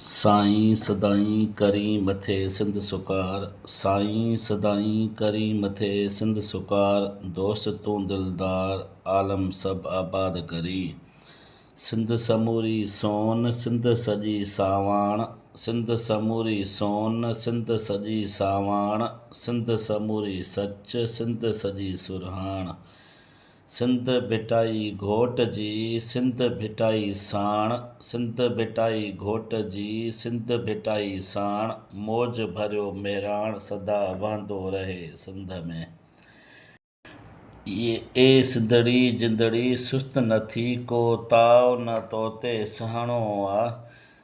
سائين سدائين ڪرين مٿي سنڌ سوڪار سائين سدائين ڪرين مٿي سنڌ سوڪار دوست تون دلدار عالم سڀ آباد ڪرين سنڌ سموري سون سنڌ سڄي ساواڻ سنڌ سموري سون سنڌ سڄي ساواڻ سنڌ سموري سچ سنڌ سڄي سرهاڻ سنڌ ڀٽائي گهوٽ جي سنڌ ڀٽائي ساڻ سنڌ ڀٽائي گهوٽ جي سنڌ ڀٽائي ساڻ موج ڀريو مهراڻ سدا وهندو رهي سنڌ ۾. اي سنڌڙي جندڙي سست نه ٿي ڪو تاء نه توتي سهڻو آ.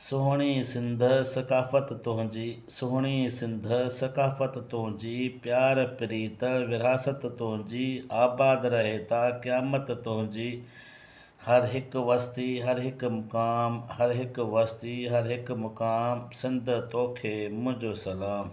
سهڻي سنڌ ثقافت تنهنجي سهڻي سنڌ ثقافت تنهنجي پيار پريت ورهاست تنهنجي آباد رهي تا قيامت تنهنجي هر هڪ وستي هر هڪ مقام هر هڪ وستي هر هڪ مقام سنڌ توکي منهنجو سلام.